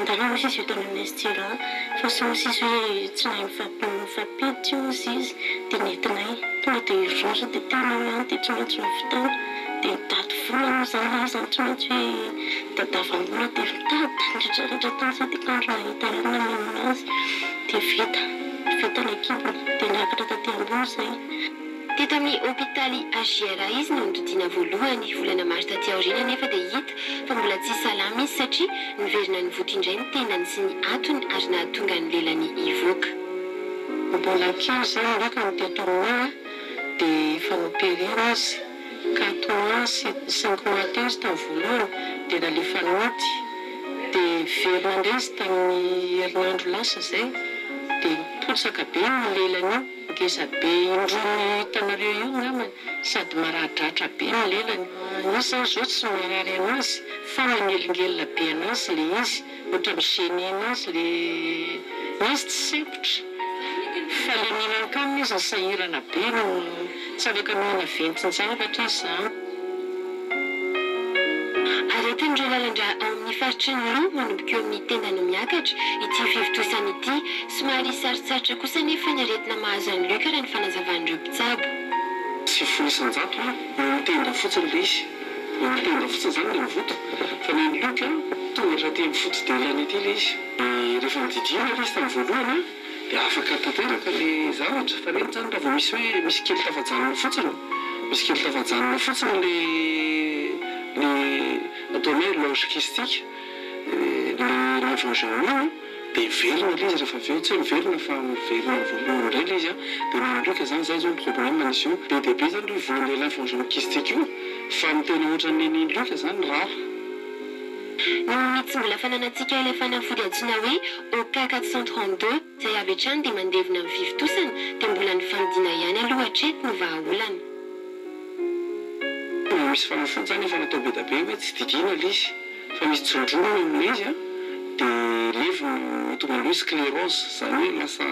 Angaha hoy izy io tamin'i Mesjira, fa sao sisa hoe tsy nahay nifampiditra io hozy izy, dia nentinay. Tonga dia ry rariny dia teny eo ihany dia tsy maintsy navitany. Dia nitady vola moa izany izy, izany tsy maintsy hoe tadiavam-bola, dia nitady nandritra rehetra tany sady hitandro nahita ihany namelona azy. Dia vita, vita ny ekipany, dia niakatra taty ambony izay. Teto amin'ny hopitaly HJRA izy no nitodiana voalohany. Volana maro taty aoriana anefa dia hita fa mbola tsy salama izy satria niverina nivoitra indray ny tendany sy ny hatony ary nahatonga ny lelany hivoaka. Mbola kely izany angamba no teto aminay dia efa noperena izy. Quatre mois sy cinq mois teo izy tamin'ny voalohany dia nalefa nody. Dia velona indray izy tamin'ny herinandro lasa izay dia nipotsaka be ny lelany io. Ngeza be indroa no hitanareo io ngamba sady maradratra be ny lelany, izy zany zao tsy marary anazy fa manelingelina be anazy le izy ohatra mi gene anazy le izy tsy sempotra fa le mihinan-kanina izy ny sahirana be no Tsy afaka manana ventin-javatra izaho. Ary ataon'ireo lalan-drà ao amin'ny faritry ny Lou manomboka eo amin'ny tenda no miakatra ity fivontosana ity. Somary sarotsarotra kosa anefa ny aretina mahazo an'i Luc raha ny fanazavan'ireo mpitsabo. Sivifolo isan-jato ha, eo amin'ny tenda fotsiny ilay izy. Eo amin'ny tenda fotsiny izany ilay mivoto. Fa ny an'i Luc, tonga hatraty amin'ny foto-delany aty ilay izy. Dia rehefa nodidiana ilay izy tamin'ny voalohany. dia afaka tanteraka ny zavatra fa nety zany raha vao misy hoe misy kely tafajanona fotsiny misy kely tafajanona fotsiny ny ny ataonay hoe loge kistika ny levant germine dia velona ilay izy rehefa avy eo tsy hoe miverina fa miverina ny voalohany indray ilay izy an dia mandrika zany zay zao ny problème misy eo be dia be zany io voan'ilay levant germine kistika io fa ny tena ohatran'ny an'i luc zany rare. Ny tsy mbola fananantsika ilay fanafody antsoina hoe OK 432 izay avy hatrany dia mandevona ny fivontosana dia mbola ny fandidiana ihany aloha hatreto no vahaolana. Mbola misy fanafody izany efa natao be dia be hoe tsy didiana ilay izy fa misy tsindroniny amin'ilay izy dia levona mahatonga an'ilay hoe sclerose izany hoe lasa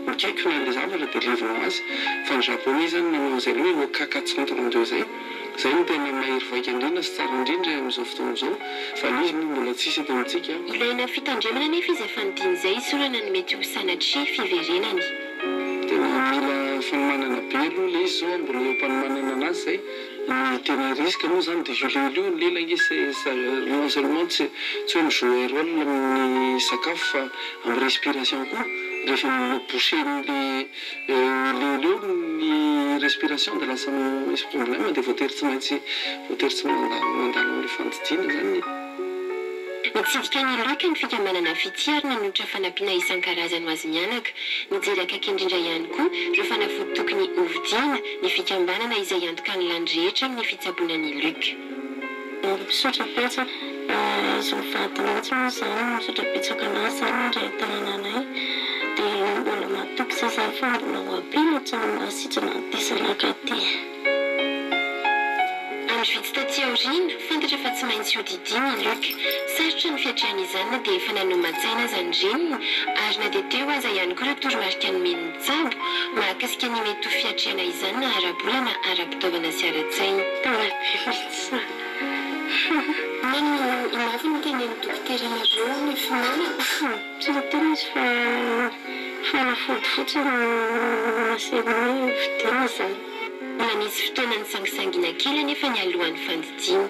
Akaiky na ilay zavatra dia levona ho azy. Fa ny Japoney izany manao an'izay hoe Okaka centre andreo izay. Izay no tena mahery vaika indrindra sy tsara indrindra amin'izao fotoana izao. Fa ilay izy moa mbola tsisy eto amintsika. Ilaina fitandremana anefa izy efa nidina izay hisorana ny mety ho sanatria fiverenany. Tena mila fanomanana be aloha ilay izy izao an, mbola eo am-panomanana anazy izay. Ny tena risque moa zany de io lelo io, lela nge c'est non seulement tsy hoe mi-jouer role amin'ny sakafo fa amin'ny respiration koa, rehefa mi-boucher-n'ny le lelo eo ny respiration de lasa misy problème de voatery tsy maintsy voatery tsy mandalo mandalo amin'ny fandidiana zany ny. Nitsidika ny loka ny fikambanana Fitia ary nanolotra fanampiana isan-karazany ho azy mianaka. Nijery akaiky indrindra ihany koa ireo fanafody tokony hovidiana ny fikambanana izay hiantoka ny lany rehetra amin'ny fitsaboana ny loka. Ary mpisotra betsaka izy mivady mihitsy moa izany no misotra betsaka an'azy izany indray ateriana anay dia mbola matoky sy izay fa mbola ho ampy ny tsaramaso sy tsy maha diso anakaty. Andro vitsy taty aoriana, fantatra fa tsy maintsy hodidiany i Luc. Sarotra ny fiatrehana izany na dia efa nanoman-tsaina aza ny reniny, ary na dia teo aza ihany koa ireo toromarika nomen'ny mpitsabo mahakasika ny mety ho fiatrehana izany na ara-bola na ara-pitaovana sy ara-tsaina. Tena be mihitsy e! Nino i Mary ny tenin'ny dokotera nareo ny finoana? Tsapany izy fa fanafody fotsiny ny mahaserana ny fidiana izany. Manisy fotoana nisangisangiana kely anefa ny alohan'ny fandidiana.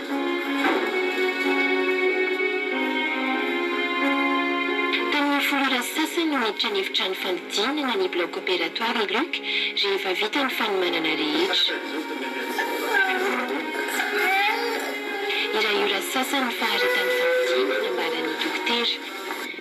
Tamin'ny folo ora sy sasany miditra ny efitrano fanodinana ny bloc opératoire i Luc rehefa vita ny fanomanana rehetra. Iray ora sy sasany ny faharetan'ny fanodinana, ambara ny dokotera.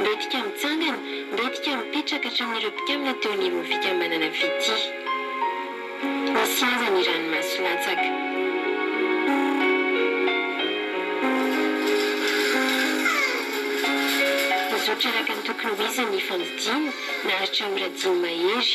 Mbetika mitsangana, mbetika mipetraka hatramin'ireo mpikambana teo anivon'ny fikambanana Fitia. Nisy aza ny ranomaso latsaka. Nizotra araka ny tokony ho izy ny fandidiana, naharitra ora dimy mahery.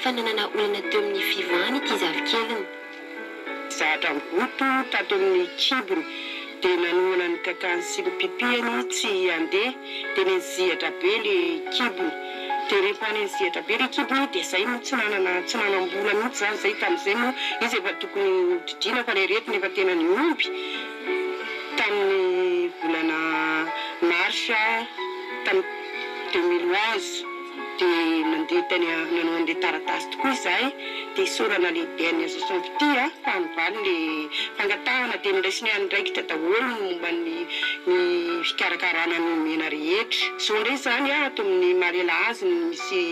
fa nanana olana teo amin'ny fivahany ity zafikeliny. Zatra goto tato amin'ny kibony dia nanohana ny kakany sy ny pipiany tsy handeha dia nenjihatra be ilay kibony dia rehefa nenjihatra be ilay kibony dia izay moa tsy nanana tsy nanam-bola mihitsy izany izay tamin'izay moa izy efa tokony hodidriana fa ilay aretina efa tena nihomby tamin'ny volana marsa tamin'ny deux mille onze. Dia nandeha tany a, nanao an'ilay taratasy tokoa izahay, dia isaorana lehibe an'i Azoson Pty a, fa nivaly ilay fangatahana, dia noraisiny andraikitra daholo ny momba ny ny fikarakarana ny omena rehetra. Izao indray izany a, ato amin'ny Malela azy no misy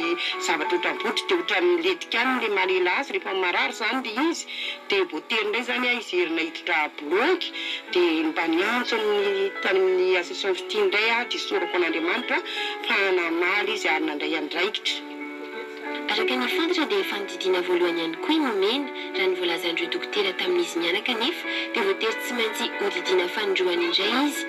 zavatra ohatram-botry, dia ohatran'ny miletika any ilay Malela azy rehefa marary izany ilay izy, dia voatery indray izany a izy herina hiditra Blogy dia mba niantso amin'ny tany amin'ny association fitia indray aho dia sorako an'Andriamanitra fa namaly izy ary nandray andraikitra. Araka ny fantatra dia fanodidiana voalohany ihany koa i Nomena, raha ny voalazan'ireo dokotera tamin'izy mianaka anefa dia voatery tsy maintsy hodidiana fanindroany indray izy.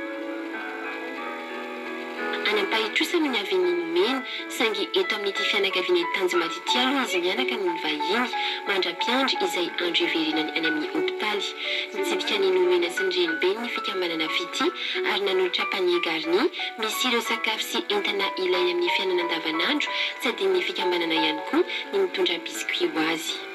Any Ampahitosana ny avenue nomeny, saingy eto amin'ity fianakaviana ety Tanjimaty ity aloha izy mianaka no nivahiny, mandra-piandry izay andro hiverenany any amin'ny hopitaly. Nitsidika ny nomena sy ny renibeny ny fikambanana Fitia ary nanolotra panier garni misy ireo sakafo sy entana ilainy amin'ny fiainana andavanandro tsy adinon'ny fikambanana ihany koa ny nitondra biscuit ho azy.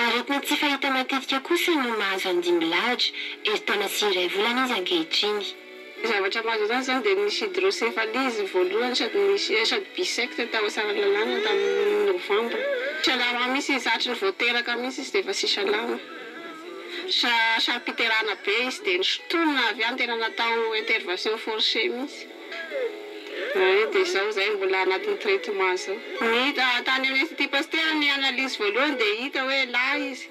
Araka ny tsy fahita matetika kosa no mahazo andimby lahatra, herintaona sy iray volana izy ankehitriny. Ny zavatra malaza azy izany dia nisy hydrocéphalie izy voalohany sady nisy sady bisecte tao Tsaralalàna tamin'ny novambra. Tsy salama mihitsy izy, hatry ny vao teraka mihitsy izy dia efa tsy salama. Sa saro-piterahana be izy dia nosintonina avy any tena natao intervention forcée mihitsy. Hay dia izao izay mbola anatin'ny traitement izao. Ny hita tany amin'ny Institut Pasteur ny analyse voalohany dia hita hoe lahy izy.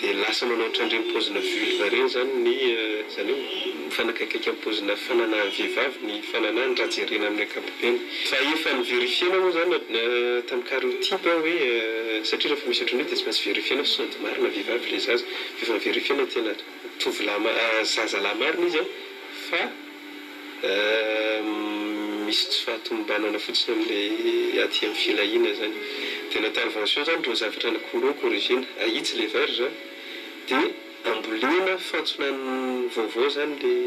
Dia lasa manao otrandreny paozina vulva reny zany ny zany hoe mifanakaikaiky am paozina fananahan vehivavy ny fananahany raha jerena aminy ankapobeny. Fa efa ni verifiena moa zany tam kariotiba hoe satria refa misy otrany io dia tsy maintsy verifiena fa sôdy marina vehivavy le zaza. Dia efa ni verifiena tena tovolahy zazalahy marina izy fa. misy tsy fahatomombanana fotsiny amin'ilay aty amin'ny filahiana izany dia ny intervention izany ireo zavatra ny courant corrigena ahitsy ilay verge a dia ambolena fantsona vaovao izany ilay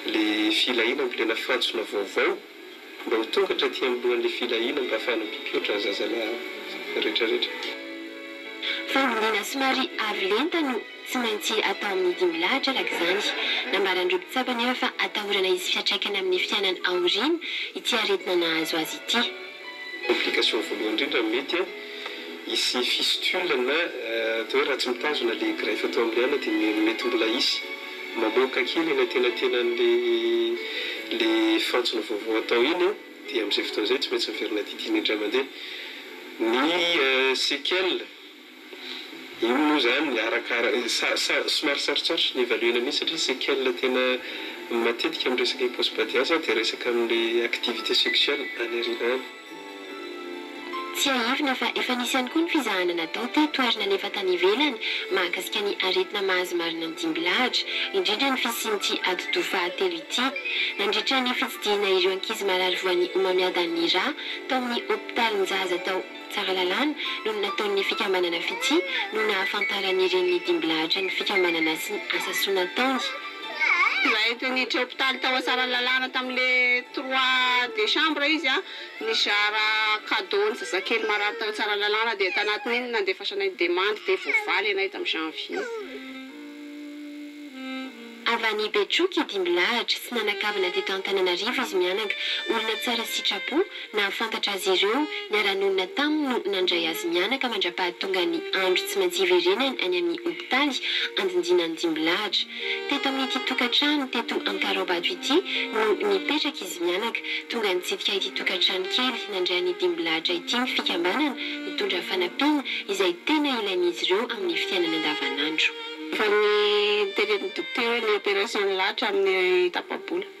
ilay filahiana ambolena fantsona vaovao Mba ho tonga hatraty amboan'ny filahiana mba afahana mpiotra ny zazalahy retraretra. Fahombiana somary avo lenta no tsy maintsy atao amin'ny dimy lahatra araka izany. Nambaran'ireo mpitsabo anefa fa atahorana hisy fiantraikany amin'ny fiainany aoriana ity aretina nahazo azy ity. Complication voalohany indrindra mety Hisy fistule na atao hoe ratsy mitazona le greffe atao amin'ny ana de mety mbola hisy mamoaka kely eny antenatenan'le le fantsona vaovao atao iny an, de amin'izay fotoana izay tsy maintsy miverina didiana indray mandeha. Ny séquelles, iny moa zany arakara sa sa somary sarotsarotry ny evaluena mihitsy satria séquelles tena matetika amin'ny resaka hiposy badiazy an de resaka amin'ny activité sexuelle any aoriana any. Tsiahivina fa efa nisy ihany koa ny fizahana natao teto ary nalefa tany ivelany mahakasika ny aretina mahazo marina ny dimbilahatra, indrindra ny fisian'ity atidoha fahatelo ity. Nandritra ny fitsidihina ireo ankizy marary voan'ny homamiadan'ny rà tao amin'ny hopitalinjaza tao Tsaralalàna no nataon'ny fikambanana Fitia no nahafantaran'ny renin'ny dimbilahatra ny fikambanana sy ny asa soa nataony. Naentin' ny Jopitaly tao Asaralalana tamin' ny trois desambra izy. Nizara kadô ny zazakely marary tao Tsaralalana dia tanatin' iny nandefasanay ny demandy dia voavaly anay tamin'ny janvier. Avy any Betroky i Dimbilahatra. Tsy nanan-kavana teto Antananarivo izy mianaka. Olona tsara sitrapo. Nahafantatra azy ireo, niara-nonina taminy no nandray azy mianaka mandra-pahatonga ny andro tsy maintsy hiverenany any amin'ny hopitaly Andindinan'i Dimbilahatra. Teto amin'ity tokantrano teto Ankaraobato ity no nipetraka izy mianaka. Tonga nitsidika ity tokantrano kely nandray an'i Dimbilahatra ity ny fikambanana mitondra fanampiana izay tena ilain'izy ireo amin'ny fiainany andavanandro. Efa nitereny dokotera ny opération nilahatra amin'ny tapa-bola.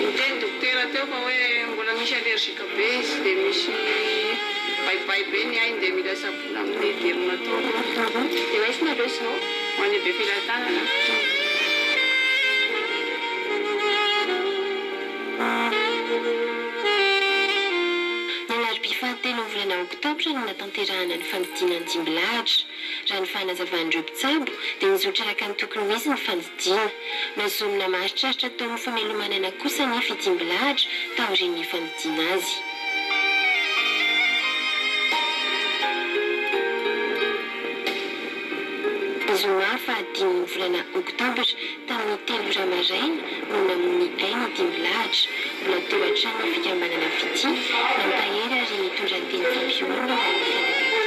Niteny ny dokotera teo fa hoe mbola misy allergique be izy dia misy baibay be ny ainy dia mila sabona amin'ny derme ataoko. Ah bon? Dia raisina aloha izao ho an'ny be filatanana. Ny mardi fahatelo ny volana oktobra no natao. hiterahana ny fandidiana ny dimby lahatra. Raha ny fanazavan'ireo mpitsabo dia nizotra araka ny tokony ho izy ny fandidiana. Nozomina maharitraritra tao amin'ny famelomanana kosa anefa i dimby lahatra taorian'ny nifandidiana azy. Zoma faha dimy ny volana oktobra. Tamin'ny telo iray maraina no namoy aina ity milahatra. Mbola teo an-trano ny fikambanana Fitia, nampahery ary nitondra ny teny fampihoroana ho an'ny fianakaviana.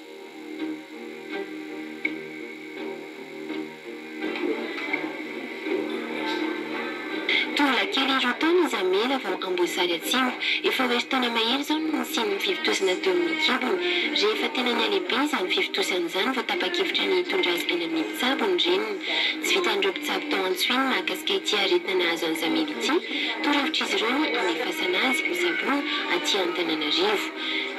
Tovolahy kely roa taona izy Amela vao Amboasary Atsimo. Efa ho herintaona mahery izao no nisian'ny fivontosana teo amin'ny kibony. Rehefa tena nihalehibe izany fivontosana izany vao tapa-kevitra ny hitondra azy any amin'ny mpitsabo ny reniny. Tsy vitan'ireo mpitsabo tao Antsohihy ny mahakasika ity aretina nahazo an'i Zamela ity. Toro-hevitr'izy ireo ny hamefasana azy ho tsaboina aty Antananarivo.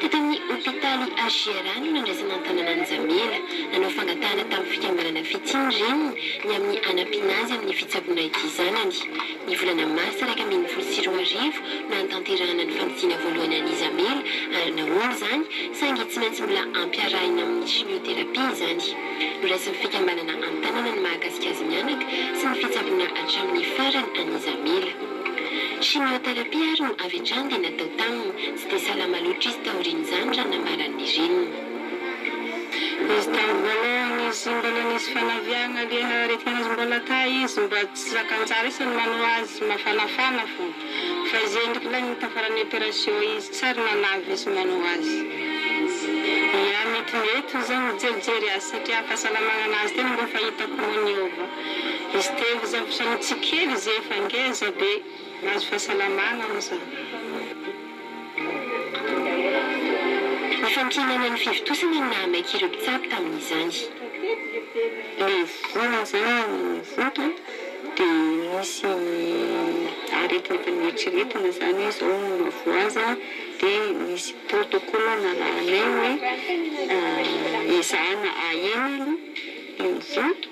Tao tamin'ny hopitaly HJRA no nandraisan'Antanana an'i Jamila. Nanao fangatahana tamin'ny fikambanana Fitia ny reniny ny amin'ny hanampiana azy amin'ny fitsaboana ity zanany. Ny volana marsa iraika ambin'ny folo sy roa arivo no hanatanterahana ny fandidiana voalohany an'i Jamila ary nahoana izany saingy tsy maintsy mbola ampiarahina amin'ny chimiothérapie izany. Noraisin'ny fikambanana Antanana ny mahakasika azy mianaka sy ny fitsaboana hatramin'ny farany an'i Jamila. Chimiothérapie ary no avy hatrany dia natao taminy. Tsy dia salama loatra izy taorian'izany raha namarany ny reniny. Izy tamin'ny voalohany izy mbola nisy fanaviagna leha aretina azy mbola ta izy mba tsy zakan-tsara izy ny manao azy mafanafana fô fa izy endriky lahy tafaran'ny operation izy tsy ary nanavy izy manao azy ia mety mety ho za mijerijery azy satria fahasalamagnanazy tena mbô fa hitako mô niova izy teo izy avy sanatria kely izy efa ngeza be Mahazo fahasalamana aho izany. Fahankinana ny fivontosana no nahamaika ireo mpitsabo tamin'izany. Ilay vola izany vonto dia nisy aretina tany eritreretiny izany hoe izao no mahavoa azy dia nisy protocole narahanay hoe ezahana ahena aloha ilay vonto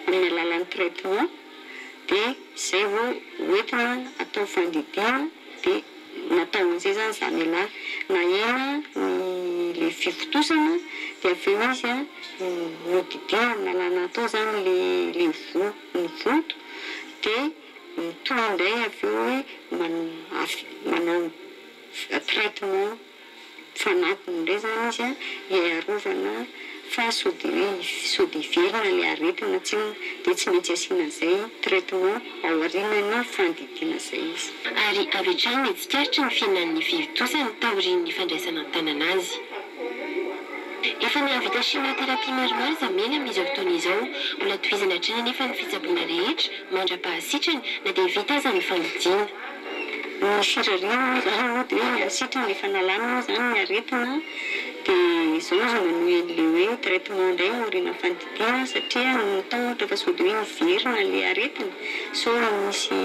amin'ny alalan'ny traitement. dia izay vao hoentina atao fandidiana dia natao amin'izay izany izany ialahy, nahena ny ilay fivotosana dia avy eo izy nodidiana amin'ny lalàna atao izany ilay voa ny vonto dia mitohy indray avy eo hoe manao traitement. Fanatiny indray izany izy hiarovana fa sody hoe sody hiverina ilay aretina tsinona dia tsy maintsy asiana an'izay traitement aorianan'ny fandidiana izay izy. Ary avy hatrany dia tsikaritry ny fihinan'ny fivi-tosany taorian'ny fandraisana an-tanana azy. Efa nahavita chimiothérapie maromaro Zamela amin'izao fotoana izao. Mbola tohizana hatrany anefa ny fitsaboana rehetra mandra-pahasitrany na dia vita aza ny fandidiana. Ny firariana moa izany aloha dia ny sitrana efa nalana moa izany ny aretina dia izao izy manohy an'ilay hoe traitement indray no aorianan'ny fandidiana satria ny tao ohatra efa sody hoe miverina ilay aretina sao misy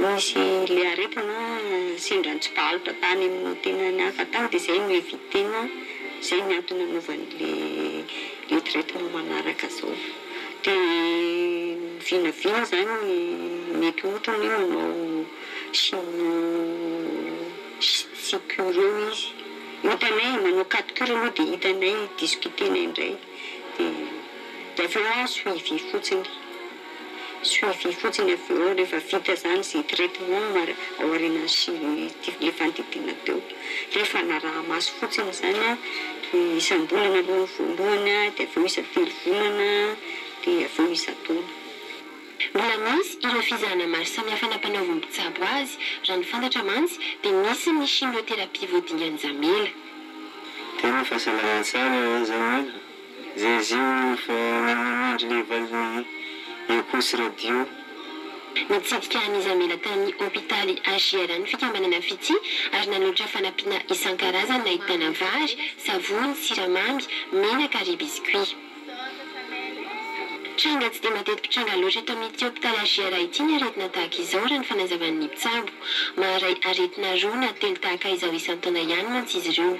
misy ilay aretina sendra nitsibalitra tany amin'ny tenany hafa tany dia izay no eviter-na, izay no antony nanaovany ilay ilay traitement manaraka izao. Dia ny vinavina izany mety ohatra ny hoe manao chimio sicure eo izy. Hitanay, manao quatre cure aloha dia hitanay, discuter-nay indray. Dia avy eo suivi fotsiny. Suivi fotsiny avy eo rehefa vita izany izay traitement ao aorianan'ny ilay fandidiana teo. Rehefa hanaraha-maso fotsiny izany, ny isam-bolana aloha ny voalohany, dia avy eo isa-telo volana, dia avy eo isa-taona. Mbola misy ireo fizahana maro samihafa nampanaovin'ny mpitsabo azy. Raha ny fantatra mantsy, dia misy ny chimiothérapie vao dingan-jamela. Tena fahasalamana tsara izany an! Zezé efa nanamandry le valiny Echos Radio. Nitsidika an'i Jamila tany hopitaly HJR ny fikambanana Fitia ary nanolotra fanampiana isan-karazany nahitana vary, savony, siramamy, menaka ary biscuits. Tranga tsy dia mateti-pitranga loatra eto amin'ity hopitaly HJR ity ny aretina tahaka izao raha ny fanazavan'ny mpitsabo. Maharay aretina roa na telo tahaka izao isan-taona ihany mantsy izy ireo.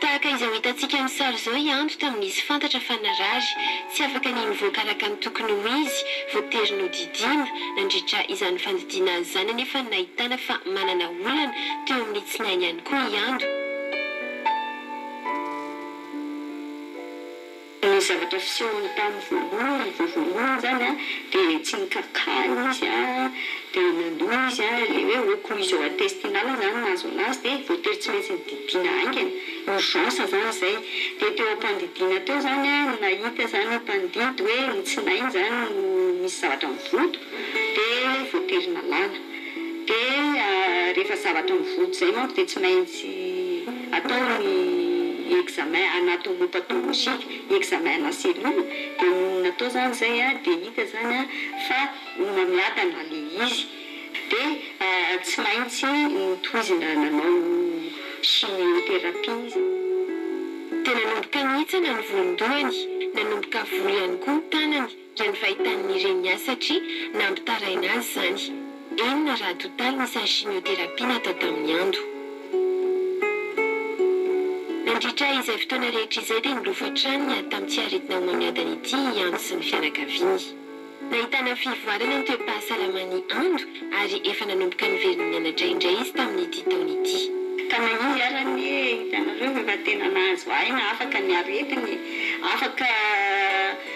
Tahaka izao hitantsika amin'ny sary izao i Ando tamin'izy fantatra fa narary, tsy afaka ny mivoaka araka ny tokony ho izy, voatery nodidiana. Nandritra izany fandidiana azy izany anefa no nahitana fa manana olana teo amin'ny tsinainy ihany koa i Ando. Ny zavatra fisehony tamin'ny voalohany vao voalohany izany an, dia tsy nikarokarina izy an, dia nandoa izy an, ilay hoe occlusion intestinale izany no nahazo anazy, dia voatery tsy maintsy nididiana haingana, urgence izany izay. Dia teo am-pandidiana teo izany an, no nahita izany ny mpandidy hoe ny tsinainy izany no misy zavatra mivodo, dia voatery nalana. Dia rehefa zavatra mivody zay manko dia tsy maintsy atao ny examen anatomopathologique, examen ana cellule, dia nonina atao zany zay dia hita zany fa homamiadana le izy dia tsy maintsy notohizina nanao chimiothérapie izy. Dia nanomboka nihintsana ny volon-dohany, nanomboka voa ihany koa ny tanany. raha ny fahitany ny reniny azy satria nampitaraina azy izany. Enina raha totaly ny isan'ny chimiothérapie natao tamin'i Ando. Nandritra izay fotoana rehetra izay dia nilofo hatrany niady tamin'ny tsy aretina homamiadana ity i Ando sy ny fianakaviany. Nahitana fivoarana ny toe-pahasalaman'i Ando ary efa nanomboka niverina nianatra indray izy tamin'ity taona ity. Ka na inona ary anie hitanareo efa tena nahazo aina afaka ny aretiny, afaka.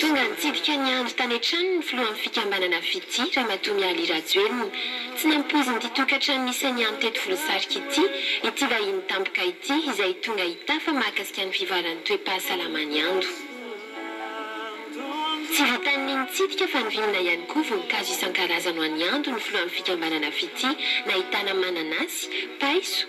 Tonga nitsidika ny andry tany an-tranony ny filohan'ny fikambanana Fitia, Ramatoa Mialy Rajoelina. Tsy nampoizin'ity tokantrano misy an'i Amy teto Volosarika ity, ity vahiny tampoka ity, izay tonga hitafa mahakasika ny fivoaran'ny toe-pahasalamany ando. Tsy vitan'ny nitsidika fa nivimbina ihany koa voninkazo isan-karazany ho an'i Ando ny filohan'ny fikambanana Fitia, nahitana mananasy, paiso,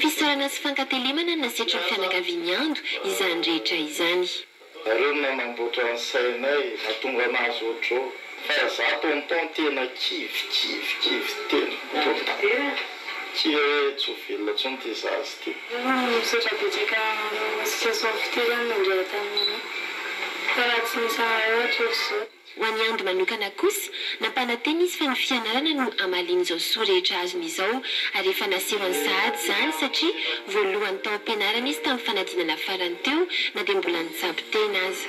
Fisaorana sy fankatelemana na setrin'ny fianakavian'i Ando izany rehetra izany. Nareo no nanamboatra ny sainay natonga anazy otrzao fa za tonton tena kivy kivy kivy tena tonton kivy e tsy ho velona tsony ty zaza ty. Misaotra betsaka amin'ny association fitirana nandray taminay fa raha tsy nisy anareo hatrizao. Ho an'i Amby manokana kosa, nampanantena izy fa ny fianarana no hamalian'izao soa rehetra azony izao ary efa naseho any sahady izany satria voalohany tao am-pianarana izy tamin'ny fanadinana farany teo na dia mbola nitsabo tena aza.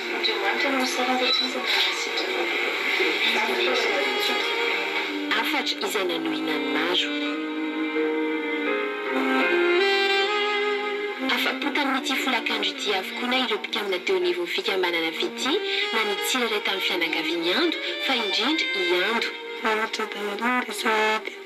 Andriamanitra no misaraka aty izy mba hahasitrana anao. Ary ny fitaovana bitsika. Hafatra izay nanohina ny maro. Afa-po tamin'ity folakandro ity avokoa na ireo mpikambana teo anivon'ny fikambanana Fitia na ny tsirairay tamin'ny fianakavian'i Ando fa indrindra i Ando. Raha ny tragedy aloha no resahina dia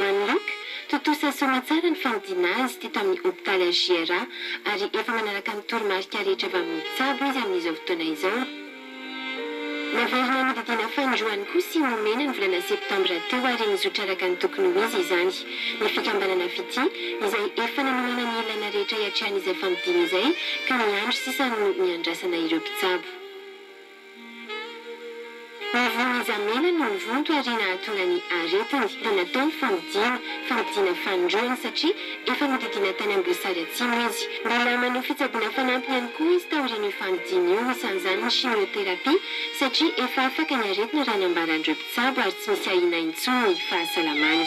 One Look, tontosa soamatsara ny fanodina azy teto amin'ny hopitaly HJRA ary efa manaraka ny toromarika rehetra avy amin'ny mpitsabo izy amin'izao fotoana izao. Naverina nodidiana fanindroany koa sy nomena ny volana septambra teo ary nizotra araka ny tokony ho izy izany ny fikambanana Fitia izay efa nanomana ny ilaina rehetra hiatrehan'izay fanodina izay ka ny andro sisa no niandrasana ireo mpitsabo. Izy Mizamela no nivonto ary nahatonga ny aretiny. Dia natao ny famojiana. Famojiana fanindroany satria efa nodidiana tany Amboasary Atsimo izy. Mbola manao fitsaboana fanampiny ihany koa izy taorian'io famojiana io, isan'izany ny chimiothérapie, satria efa afaka ny aretina raha ny ambaran'ireo mpitsabo ary tsy misy ahiana intsony ny fahasalamany.